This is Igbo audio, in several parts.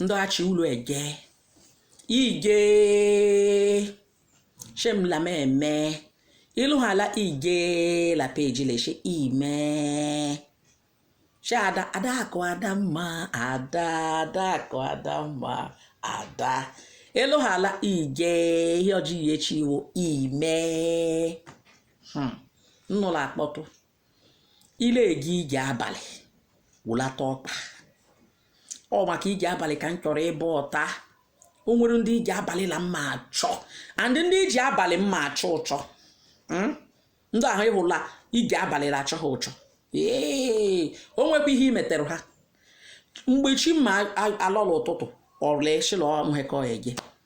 ndị achị ụlọ ege ige shemla meme ịlụhala ige la peji leshe ime ada adakụ ada mma ada adakụ ada mma ada ịlụhala ige ihe ọjọọ ihe chi iwu ime hmm. nnụlọ akpọtụ ile eje ije abalị wụlata ọkpa ọ maka ije abalị ka m chọrọ ịbụ ọta o nwere ndị ije abalị la mma achọ and ndị ije abalị mma achọ ụchọ hmm? ndị ahụ ịhụla ije abalị la achọ ha ụchọ ee o nwekwa ihe imetere ha mgbe chi ma alọla ụtụtụ ọrụla eshila ọnwekọ ege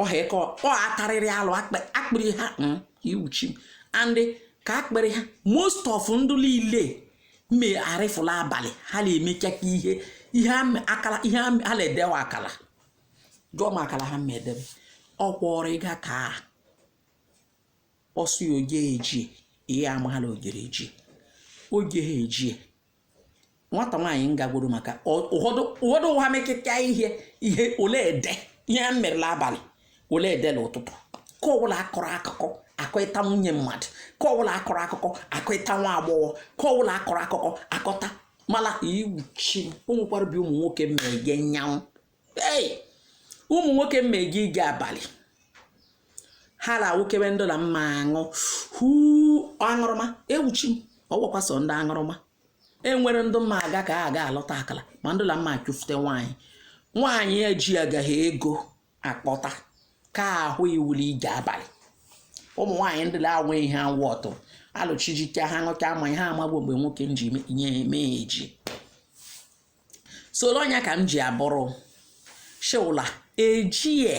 ọha eke ọ atarịrị alụ akpịrị ha hmm, iwuchi and ka akpịrị ha most of ndụ niile mme arịfụla abalị ha na-emecha ka ihe ha na-edewa akala jụọ m akala ha ma edebe ọ kwọrọ ịga ka ọsụ ya oge eji ihe amala ojere eji oge ha eji nwata nwaanyị m gagworo maka ọ- ụfọdụ ha mekịta ihe ole ede ihe a mere la abalị ole ede la ụtụtụ ka ọbụla akọrọ akụkọ akọịta nwunye mmadụ ka ọbụla akọrọ akụkọ akọịta nwa agbọghọ ka ọbụla akọrọ akụkọ akọta mala iwuchi o nwekwara bi ụmụ nwoke mma eje nyanwụ ei ụmụ nwoke mma eje ije abalị ha na-awụkewe ndụ na mma aṅụ hu aṅụrụma ewuchi m ọgwakwa so ndị aṅụrụma enwere ndụ mma aga ka a ga alọta akala ma ndụ na mma achụfute nwaanyị nwaanyị eji agaghị ego akpọta ka ahụ iwuli ije abalị ụmụ nwaanyị ndị na-anwe ihe awụ ọtụ alụchijike ha ṅụcha mmanya ha amagbo mgbe nwoke ji nye eme eji soro ọnya ka m ji abụrụ shewụla ejie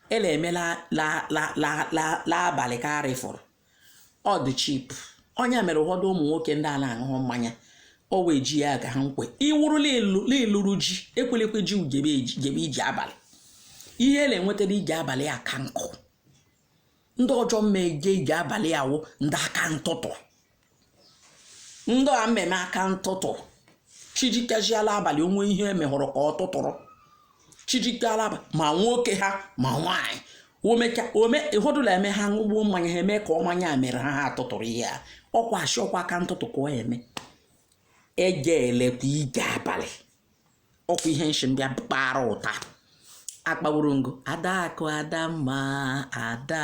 ele eme la abalị ka arịfụrụ ọ dị cheap ọnya mere ụfọdụ ụmụ nwoke ndị a na-aṅụ mmanya ọ wee ji ya ga ha nkwe ị wụrụ la ị lụrụ ji ekwelekwe ji jebe ije abalị ihe ele enwetara ije abalị aka nkụ ndị ọjọọ mma eje ije abalị awụ ndị aka ntụtụ ndị a mma eme aka ntụtụ chijikeziala abalị onwe ihe emehụrụ ka ọ tụtụrụ chijikeala ma nwoke ha ma nwaanyị omecha ome ụfọdụ la eme ha ṅụgbuo mmanya ha eme ka ọ mmanya mere ha ha atụtụrụ ihe a ọkwa ashị ọkwa aka ntụtụ ka ọ eme eje elekwa ije abalị ọkwa ihe nshi mbịa kpara ụta akpaworo ngo Adaakụ Adamma ada